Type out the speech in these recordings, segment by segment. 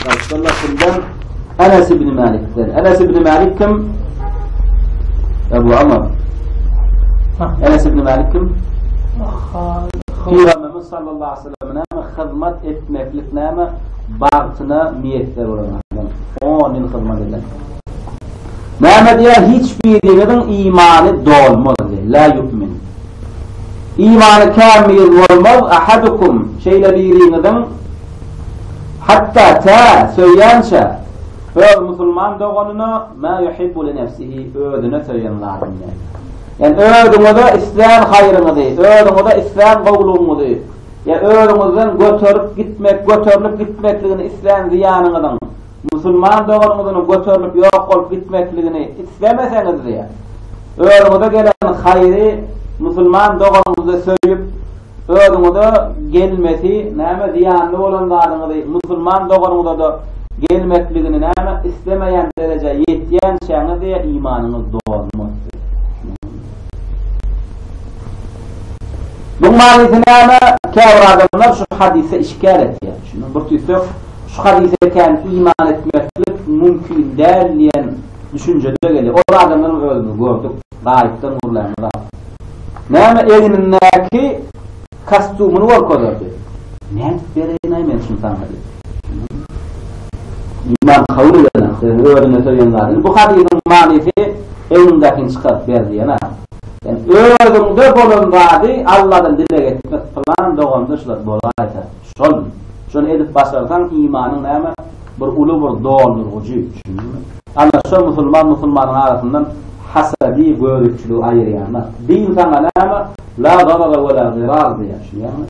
Rasulullah kimden? Enes ibn Malik'den. Enes ibn Malik kim? Ebu Amr. Enes ibn Malik kim? Peygamberimiz sallallahu aleyhi ve sellem'e näme hyzmat etmeklik näme bagtyna miýesser bolan adam. 10 ýyl hyzmat eden. Näme diýär? Hiç biriniň imany dolmaz. La yu'min. Imany kamil bolmaz. Ahadukum şeýle biriniň Hatda tä söýýänçä öz musulman doganyna ma yuhibbu li nefsihi, özüne söýen zadyny berýär. Ýani özüňize islän haýryňyzy, özüňize islän gowulygyňyzy, ýa özüňizden göterip gitmek, göterilip gitmekligini islän zyýanyňyzyň musulman doganyňyzyň göterilip ýok bolup gitmekligini islemeseňiz diýýär. Özüňize gelen haýry musulman doganyňyzy söýüp, Özüňize gelmesi näme zyýanly bolan zadyňyzy musulman doganyňyzada gelmekligini näme islemeýän derejä ýetýänçäňizi imanyňyz dolmaz siziň. Muň manysy näme käbir adamlar şu hadysy işgär etýär. Şuny bir tüýsek şu hadysa kän iman etmeklik mümkin däl diýen düşünjede gelýär. Ol adamlaryň özüni gördük. Gaýypdan gurlan zat. Näme egnindäki kastýumyny görkezerdi. Nädip bereýin-aý men şuny saňa diýip. Iman kabul edene, sözüni özüne söýen zat. Indi bu hadysyň manysy egniňdäkini çykaryp ber diýen-ä. Sen özüňde bolan zady Alladan dileg etmek, pylan doganda şular bolaýsa. Şol. Şony edip başarsaň imanyň näme bir uly bir doldurgyjy. Düşündiňmi? Ana şo musulman musulmanyň arasyndan hasady göripçiligi aýyrýana. Din saňa näme la zarara we la zirar diýýär. Düşünýäňmi?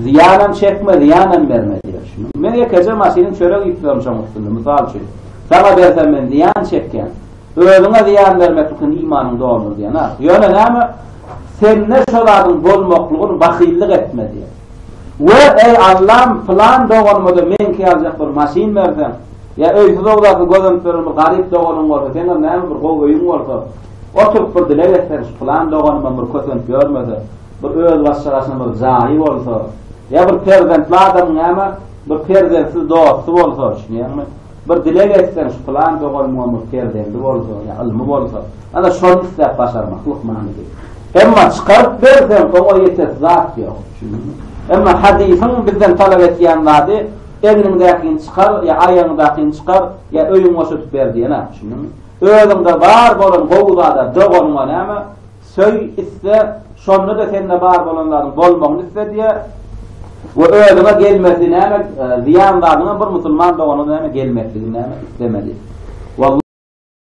Zyýanam çekme, zyýanam berme diýýär. Düşündiňmi? Men ýekeje maşynyň çörek iýip durýan şoň üstünde mysal üçin. Saňa bersem men zyýan çekýän. Özüňe zyýan bermek üçin imanyňy doldur diýýän. Ýöne näme? Sende şo zadyň bolmaklygyny bahyllyk etme diýýär. We, eý, Allam, pylan doganyma-da meňki ýaljak bir maşyn berseň! Ýa öýsüz-ogdasyz gözenip ýören bir garyp doganyň bolsa, seňem näme bir gowy öýüň bolsa, oturyp bir dileg etseň, şu pylan doganymam bir kösenip ýörmese, bir özbaşja gaçan bir jaýy bolsa! Ýa bir perzentli adamyň näme, bir perzentsiz dosty bolsa! Düşünýäňmi? Bir dileg etseň, şu pylan doganymyň perzendi bolsa, ýa ylmy bolsa, ana şony isläp başarmak lukmanydy. Emma çykaryp berseň, oňa ýetersi zat ýok. Düşündiňmi? Emma hadysyň bizden talap etýän zady, egniňdäkini çykar, ýa aýagyňdakyny çykar, ýa öýüňi boşadyp ber diýen-ä. Düşündiňmi? Özüňde bar bolan gowy zada, doganyňa näme? Söý, iste, şonda-da sende bar bolan zadyň bolmagyny iste diýýär we özüňe gelmesi näme zyýan zadyňam bir musulman doganyňa näme gelmesligini näme islemeli.